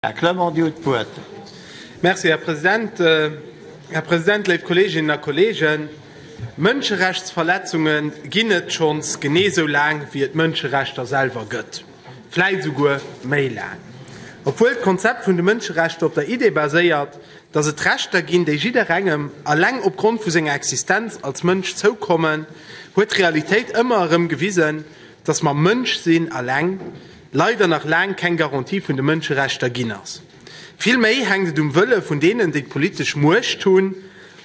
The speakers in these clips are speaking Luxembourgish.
Här Clement, Dir hutt d'Wuert. Merci, Här President. Här President, léif Kolleeginnen a Kolleegen, Mënscherechtsverletzunge ginn et schonns genee esou laang, wéi et Mënscherechter selwer gëtt, vläicht esouguer méi laang. Obwuel d'Konzept vun de Mënscherechter op der Idee baséiert, dass et Rechter ginn, déi jidderengem alleng opgrond vu senger Existenz als Mënsch zoukommen, huet d'Realitéit ëmmer erëm gewisen, dass mer Mënsch sinn, alleng, leider nach laang keng Garantie vun de Mënscherechter ginn ass. Vill méi hänkt et um Wëlle vun deenen, déi d'politesch Muecht hunn,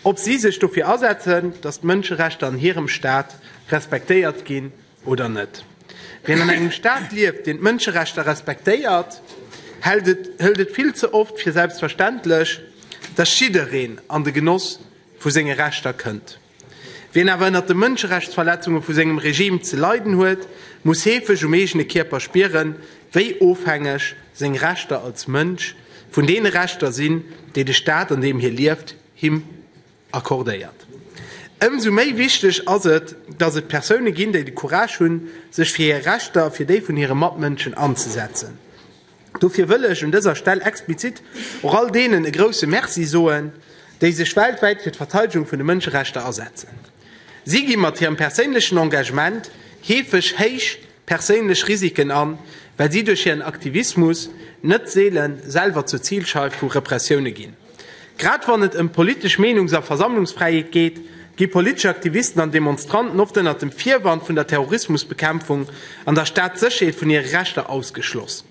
ob si sech dofir asetzen, datt d'Mënscherechter an hirem Staat respektéiert ginn oder net. Wien an engem Staat lieft, deen d'Mënscherechter respektéiert, hält et hëlt et vill ze oft fir selbstverständlech, datt jiddereen an de Genoss vu senge Rechter kënnt. Wien awer ënnert de Mënscherechtsverletzunge vu sengem Regime ze leiden huet, muss heefeg um eegene Kierper spieren, wéi ofhängeg seng Rechter als Mënsch vun deene Rechter sinn, déi de Staat, an deem hie lieft, him accordéiert. Ëmsou méi wichteg ass et, datt et Persoune ginn, déi de Courage hunn, sech fir hir Rechter a fir déi vun hire Matmënschen anzesetzen. Dofir wëll ech un dëser Stell explizit och all deenen e grouse Merci soen, déi sech weltwäit fir d'Verteidegung vun de Mënscherechter asetzen. Si gi mat hirem perséinlechen Engagement heefeg héich perséinlech Risiken an, well si duerch hiren Aktivismus net seele selwer zur Zilscheif vu Repressioune ginn. Grad wann et ëm politesch Meenungs a Versammlungsfräiheet geet, gi politesch Aktivisten an Demonstranten oft ënnert dem Virwand vun der Terrorismusbekämpfung an der Staatssécherheet vun hire Rechter ausgeschloss.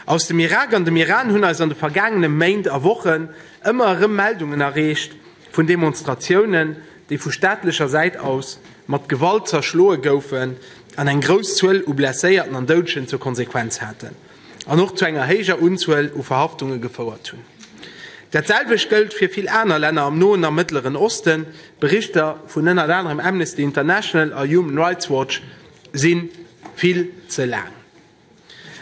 Aus dem Irak an dem Iran hunn eis an de vergaangene Méint a Wochen ëmmer erëm Meldungen erreecht vun Demonstratiounen, déi vu staatlecher Säit aus mat Gewalt zerschloe goufen an eng grouss Zuel u Blesséierten an Doudegen zur Konsequenz haten. an och zu enger héijer Unzuel u Verhaftunge gefouert hunn. Dat selwecht gëllt fir vill aner Länner am Noen a Mëttleren Osten. Berichter vun ënnert anerem Amnesty International a Human Rights Watch si vill ze laang.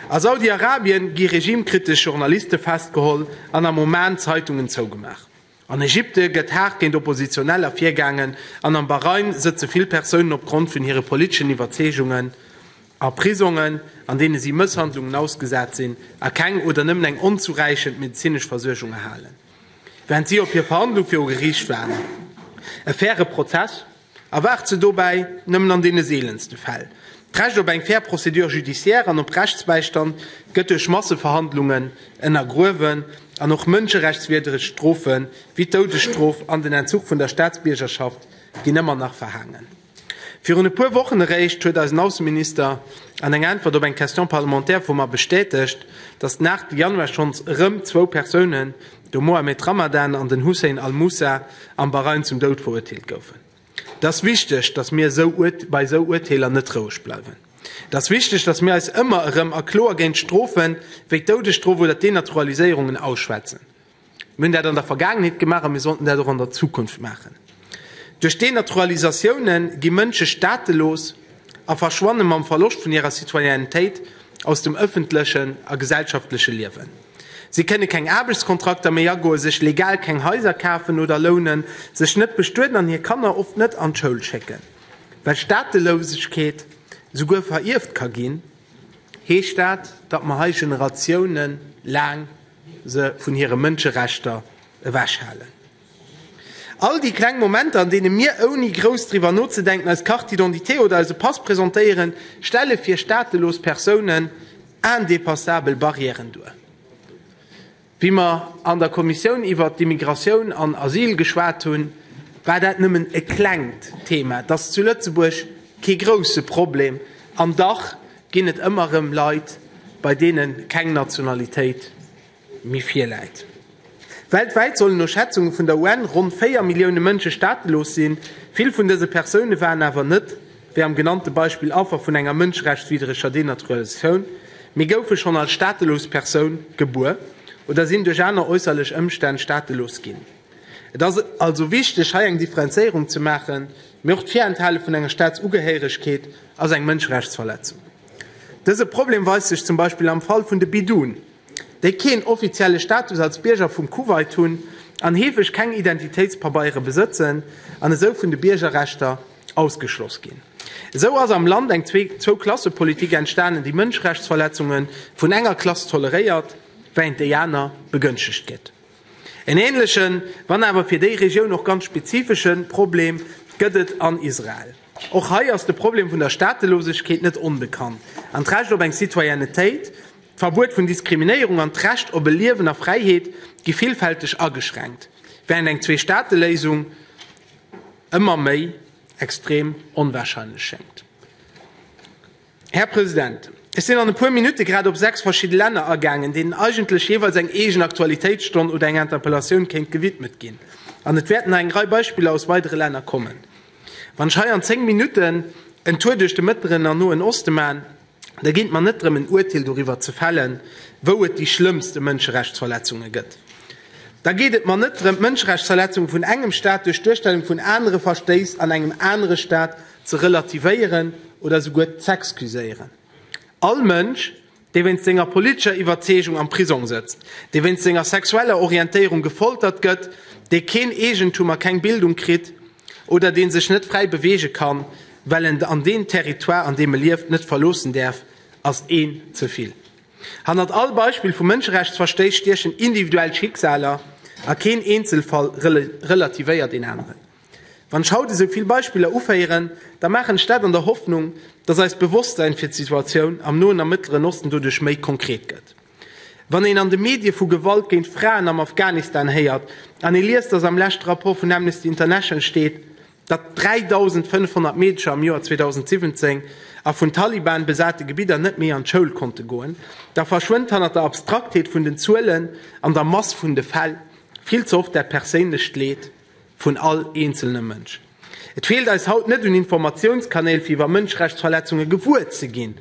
A Saudi-Arabien gi regimkritesch Journaliste festgeholl an am Oman Zeitungen zougemaach. An Ägypte gëtt haart géint Oppositioneller virgaangen an am Bahrain sëtze vill Persounen opgrond vun hire politeschen Iwwerzeegungen a Prisongen, an deene si Mësshandlungen ausgesat sinn a keng oder nëmmen eng onzuräichend medezinesch Versuergung erhalen, während si op hir Verhandlung viru Geriicht waarden. E faire Prozess? Erwaart se dobäi nëmmen an deene seelenste Fäll. D'Recht op eng fair Procédure judiciaire an op Rechtsbäistand gëtt duerch Masseverhandlungen ënnergruewen an och mënscherechtswierdreg Strofe wéi d'Doudesstrof an den Entzuch vun der Staatsbiergerschaft ginn ëmmer nach verhaangen. Virun e puer Wochen eréischt huet eisen Ausseminister an enger Äntwert op eng Question parlementaire vu mer bestätegt, datt nach de Januar schonns erëm zwou Persounen de Mohamed Ramadan an den Hussein al-Mussa am Bahrain zum Doud verurteelt goufen. Et ass wichteg, datt mir bei esou Urteeler net roueg bleiwen. Et ass wichteg, datt mir eis ëmmer erëm a kloer géint Strofe wéi d'Doudesstrof oder d'Denaturaliséierungen ausschwätzen. Mir hunn dat an der Vergaangenheet gemaach a mir sollten dat och an der Zukunft maachen. Duerch Denaturalisatioune gi Mënsche staatelos a verschwanne mam Verloscht vun hirer Citoyennetéit aus dem ëffentlechen a gesellschaftleche Liewen. Si kënne keng Aarbechtskontrakter méi agoen, sech legal keng Haiser kafen oder lounen, sech net bestueden an hir Kanner oft net an d'Schoul schécken. Well Staatelousegkeet souguer verierft ka ginn, heescht dat, datt mer hei Generatiounen laang se vun hire Mënscherechter ewech halen. All déi kleng Momenter, an deene mir, ouni grouss driwwer nozedenken, eis Carte d'identité oder eise Pass presentéieren, stelle fir staatelos Persounen indepassabel Barrièren duer. Wéi mer an der Kommissioun iwwert d'Immigratioun an Asyl geschwat hunn, war dat nëmmen e klengt Thema. Et ass zu Lëtzebuerg kee grousse Problem, an dach ginn et ëmmer erëm Leit, bei deene keng Nationalitéit Mee virläit. Weltwäit sollen no Schätzunge vun der UN ronn 4 Millioune Mënsche staatelos sinn. Vill vun dëse Persoune waren awer net, wéi am genannte Beispill, Affer vun enger mënscherechtswiddreger Denaturalisatioun, mee goufe schonn als staatelos Persoun gebuer oder sinn duerch aner äusserlech Ëmstänn staatelos ginn. Et ass also wichteg, hei eng Differenzéierung ze maachen. Mee och d'Virenthale vun enger Staatsugehéiregkeet ass eng Mënscherechtsverletzung. Dëse Problem weist sech zum Beispill am Fall vun de Bidun, déi keen offizielle Status als Bierger vum Kuwait hunn an heefeg keng Identitéitspabeiere besëtzen an esou vun de Biergerrechter ausgeschloss ginn. Esou ass am Land eng Zwou-Klasse-Politik entstanen, déi Mënscherechtsverletzunge vun enger Klass toleréiert, wärend déi aner begënschtegt gëtt. En änlechen, wann awer fir déi Regioun och ganz spezifesche Problem gëtt et an Israel. Och hei ass de Problem vun der Staatelosegkeet net onbekannt an d'Recht op eng Citoyennetéit D'Verbuet vun Diskriminéierung an d'Recht op e Liewen a Fräiheet gi villfälteg ageschränkt, wärend eng Zwee-Staate-Léisung ëmmer méi extrem onwahrscheinlech schéngt. Här President, ech sinn an e puer Minutte grad op sechs verschidde Länner agaangen, deenen eigentlech jeeweils eng eegen Aktualitéitsstonn oder eng Interpellatioun kéint gewidmet ginn, an et wäerten nach eng Rei Beispiller aus weidere Länner kommen. Wann ech hei an zéng Minutten en Tour duerch de Mëttleren an Noen Oste man, Da geet et mer net drëm en Uerteel doriwwer ze fällen, wou et déi schlëmmste Mënscherechtsverletzunge gëtt. Da geet et mer net drëm d'Mënscherechtsverletzunge vun engem Staat duerch d'Duerstellung vun anere Verstéiss an engem anere Staat ze relativéieren oder esouguer z'excuséieren. All Mënsch, dee wéinst senger politescher Iwwerzeegung am Prisong sëtzt, dee wéinst senger sexueller Orientéierung gefoltert gëtt, dee keen Eegentum a keng Bildung kritt, oder dee sech net fräi beweege kann, well en an deen Territoire, an deem e lieft, net verloossen däerf, ass een ze vill. Hannert all Beispill vu Mënscherechtsverstéiss stiechen individuell Schicksaler, a keen Eenzelfall relativéiert een aneren. Wann ech haut esou vill Beispiller uféieren, da maachen ech dat an der Hoffnung, dass eist Bewosstsein fir d'Situatioun am Noen a Mëttleren Osten doduerch méi konkret gëtt. Wann een an de Medie vu Gewalt géint Fraen am Afghanistan héiert an ee liest, datt am leschte Rapport vun Amnesty International steet, datt 3.500 Meedcher am Joer 2017 a vun Taliban besate Gebidder net méi an d'Schoul konnte goen, da verschwënnt hannert der Abstraktheet vun den Zuelen an der Mass vun de Fäll vill ze oft dat perséinlecht Leed. vun all eenzelne Mënsch. Et feelt eis haut net un Informatiounskanäl fir iwwer Mënscherechtsverletzunge gewuer ze ginn.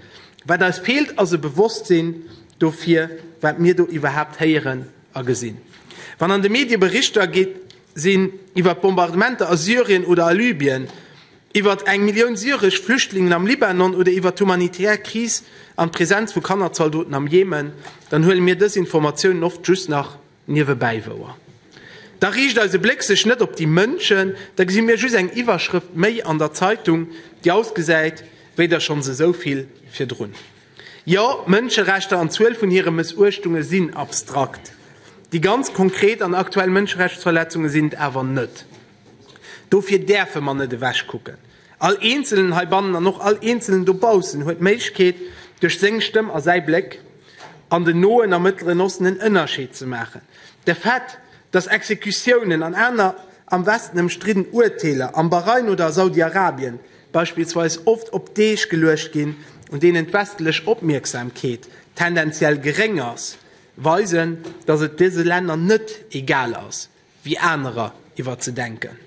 Wat eis feelt ass e Bewosstsinn dofir wat mir do iwwerhaapt héieren a gesinn. Wann an de Medie Berichter gi sinn iwwer d'Bombardementer a Syrien oder a Libyen, iwwer eng Millioun syresch Flüchtlingen am Libanon oder iwwer d'humanitär Kris an d'Presenz vu Kannerzaldoten am Jemen, dann huele mir dës Informatiounen oft just nach Niewebäi wouer. Da riicht eise Bléck sech net op déi Mënschen, da gesi mir just eng Iwwerschrëft méi an der Zeitung, déi ausgesäit wéi der schonns esou vill virdrun. Jo, Mënscherechter an d'Zuel vun hire Mëssuechtunge sinn abstrakt, déi ganz konkret an aktuell Mënscherechtsverletzunge sinn et awer net. Dofir däerfe mer net ewechkucken. All eenzelen heibannen an och all eenzelen dobaussen huet d'Méiglechkeet, duerch seng Stëmm a säi Bléck, an den Noen a Mëttleren Osten en Ënnerscheed ze maachen. De Fait, dass Exekutiounen an aner am Westen ëmstridden Urteeler am Bahrain oder a Saudi-Arabien beispillsweis oft op Deeg geluecht ginn, un deenen d'westlech Opmierksamkeet tendenziell geréng ass, weisen, dass et dëse Länner net egal ass, wéi anerer iwwer ze denken.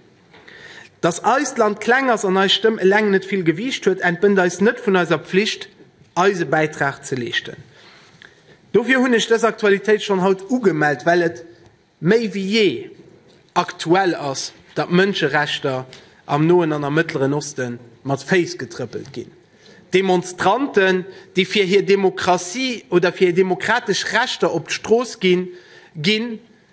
Dass eist Land kleng ass an eis Stëmm eleng net vill Gewiicht huet, entbënnt eis net vun eiser Pflicht, eise Bäitrag ze leeschten. Dofir hunn ech dës Aktualitéit schonn haut ugemellt, well et méi wéi jee aktuell ass, datt Mënscherechter am Noen an am Mëttleren Oste mat Féiss getrëppelt ginn. Demonstranten, déi fir hir Demokratie oder fir hir demokratesch Rechter op d'Strooss ginn, ginn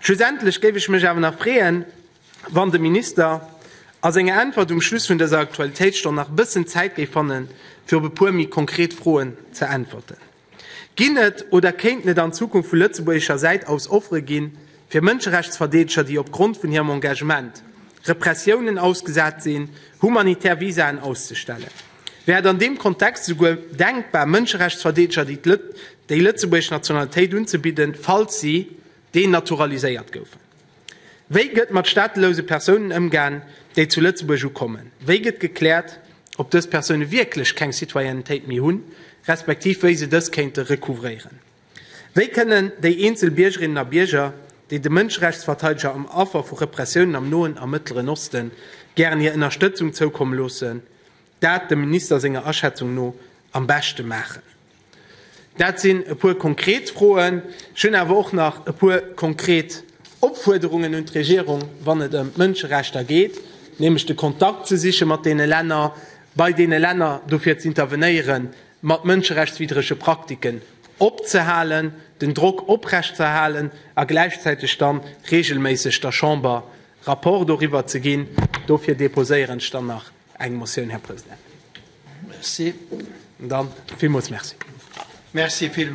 Schlussendlech géif ech mech awer nach freeën, wann de Minister a senger Äntwert um Schluss vun dëser Aktualitéitsstonn nach e bëssen Zäit géif fanne fir op e puer méi konkret Froen ze äntwerten. Ginn et oder kéinten et an Zukunft vu lëtzebuergescher Säit aus Offere gi fir Mënscherechtsverdeedeger, déi opgrond vun hirem Engagement Repressiounen ausgesat sinn, humanitär Visaen auszestellen? Wär et an deem Kontext esouguer denkbar, Mënscherechtsverdeedeger déi lëtzebuergesch Nationalitéit unzebidden, falls si denaturaliséiert goufen? Wéi gëtt mat staatelouse Persounen ëmgaan, déi zu Lëtzebuerg ukommen? Wéi gëtt gekläert, ob dës Persoune wierklech keng Citoyennetéit méi hunn, respektiv wéi se dës kéinte recouvréieren? Wéi kënnen déi eenzel Biergerinnen a Bierger, déi de Mënscherechtsverteideger an Affer vu Repressiounen am Noen a Mëttleren Osten gären hir Ënnerstëtzung zoukomme loossen, dat dem Minister senger Aschätzung no am beschte maachen? Dat sinn e puer konkret Froen. Ech hunn awer och nach e puer konkret Opfuerderungen un d'Regierung, wann et ëm d'Mënscherechter geet, nämlech de Kontakt ze siche mat deene Länner, bei deene Länner dofir z'intervenéieren, mat mënscherechtswiddrege Praktiken opzehalen, den Drock oprechtzerhalen a gläichzäiteg da reegelméisseg der Chamber Rapport doriwwer ze ginn. Dofir deposéieren ech dann nach eng Motioun, Här President. Merci. Dann villmools Merci.